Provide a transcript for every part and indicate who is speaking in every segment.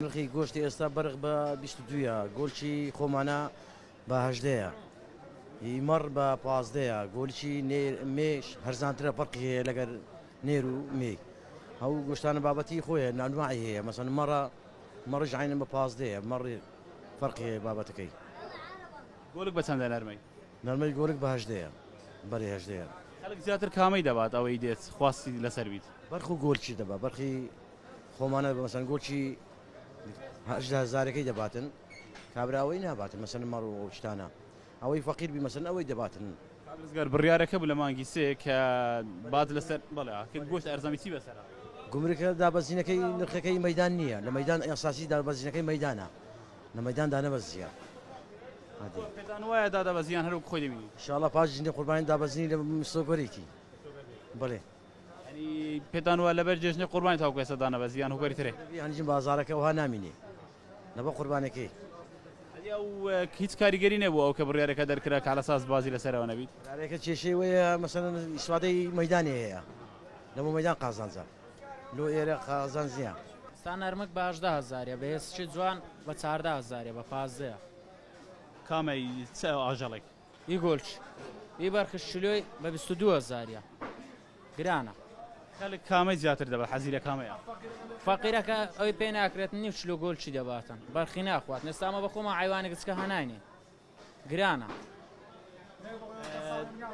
Speaker 1: نرخی گۆشتی ئێستا بەرخ بە بیست و دوو ە، گۆلچی خۆمانە بە هەژدە ە، ی مەڕ بە پازدە ە، گۆلچی نێر مێش هەرزانترە فەرقی هەیە لەگەر نێر و مێی هەوو گۆشتانە بابەتی خۆیە نانواعی هەیە مەسەن مەڕە مەڕیش عەینەن بە پازدە ە مەڕ فەرقی هەیە بابەتەکەی.
Speaker 2: گۆلک بە چەندە نەرمەی؟ نەرمەی گۆلک بە
Speaker 1: هەژدە ە بەرێ هەژدە ە. خەلک زیاتر کامەی
Speaker 2: دەبات ئەوەی دێت خواستی لەسەر بیت؟ بەرخ و گۆلچی دەبا
Speaker 1: بەرخی خۆمانە بە مەسەن گۆچی هەژدە هەزارەکەی دەباتن کابراوەی ناباتن مەسەن مەڕ و ئەوشتانە ئەوەی فەقیر بی مەسەن ئەوەی دەباتن کابرزگار بڕیارەکە
Speaker 2: بوو لە مانگی سێ کە بات لەسەر بەڵێ کرد گۆشت ئەرزانی چی بەسەرە؟ گومرکە
Speaker 1: دابەزینەکەی نرخەکەی مەدان نییە لە مەدان ئەساسی دابەزینەکەی مەدانە لە مەدان دانەبەزیە پێتان
Speaker 2: وایە دادەبەزیان هەروک خۆی دەبینی؟ شڵە پاش ژنی قوربانی
Speaker 1: دابەزینی لە مسۆگەرێکی بڵێ یانی
Speaker 2: پێتان وایە لەبەر جێژنی قوربانی تاوەکو ئێستا دانەبەزی یان هۆکاری ترێ؟ یانی بازاڕەکە ئەوها
Speaker 1: نامینێ لەبەر قوربانەکەی. یانی
Speaker 2: ئەو هیچ کاریگەری نیە بۆ ئەو کە بڕیارەکە دەرکرا کە عەلەساس بازی لەسەرەوە نەبیت؟ بڕیارەکە کێشەی وەیە
Speaker 1: مەسەلەن ئیسفادەی مەیدانی هەیە لەبۆ مەیدان قازانجە لۆ ئێرە قازانج نیە. ستا نەرمک
Speaker 3: بە هەژدە هەزاریە بە هێسکی جوان بە چاردە هەزاریە بە پازدەیە. کامەی
Speaker 2: چ ئاژەڵێک؟ ی گۆلچ
Speaker 3: ی بەرخش شلۆی بە بیست و دوو هەزاریە گرانە. خەلک
Speaker 2: کامەی زیاتر دەبا حەزی لە کامەیە؟ فەقیرەکە
Speaker 3: ئەوی پێ ناکرێت نیو چلۆ گۆلچی دەباتن بەرخی ناخواتن ئێستا ئەمە بەخۆمان عەیوانی گچکە هەناینین گرانە.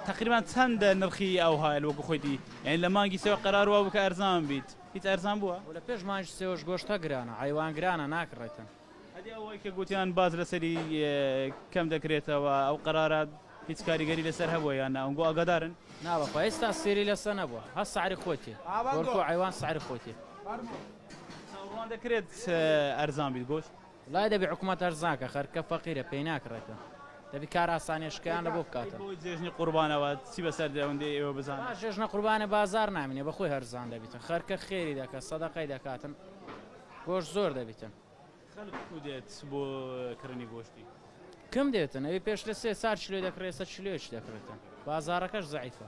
Speaker 2: تەقریبان چەندە نرخی ئەو هایل وەکو خۆی دی یعنی لە مانگی سێوە قەرار وابوو کە ئەرزان بیت هیچ ئەرزان بووە؟ وە لە پێش مانگی سێوەش
Speaker 3: گۆشتە گرانە عەیوان گرانە ناکڕێتن. ئەدی ئەوەی کە
Speaker 2: گوتیان باج لەسەری کەم دەکرێتەوە ئەو قەرارە هیچ کاریگەری لەسەر هەبووە یان نا ئەونگۆ ئاگادارن؟ نا بەخوا هێستا
Speaker 3: سێری لەسە نەبوە هە سعری خۆتی گۆرکۆ عەیوان سعری خۆتی. چاوەڕوان
Speaker 2: دەکرێت ئەرزان بیت گۆشت؟ وەڵای دەبی حکومەت
Speaker 3: ئەرزان کە خەرکە فەقیرە پێی ناکڕێتن دەبی کار ئاسانیە شکیان لە بۆ بکاتن. ئەی بۆ جێژنی قوربانەوە
Speaker 2: چی بەسەر دێوەندی ئێوە بزانن؟ با جێژنە قوربانێ بازار
Speaker 3: نامینێ بەخۆی هەرزان دەبیتن خەرکە خێری دەکە سەدەقەی دەکاتن. گۆشت زۆر دەبیتن. خەلک کوو
Speaker 2: دێت بۆ کڕینی گۆشتی؟ کم دێتن
Speaker 3: ئەوی پێش لە سێ چار کیلۆی دەکڕی ئێستا کیلۆیەکی دەکڕێتن بازاڕەکەش زەعیفە.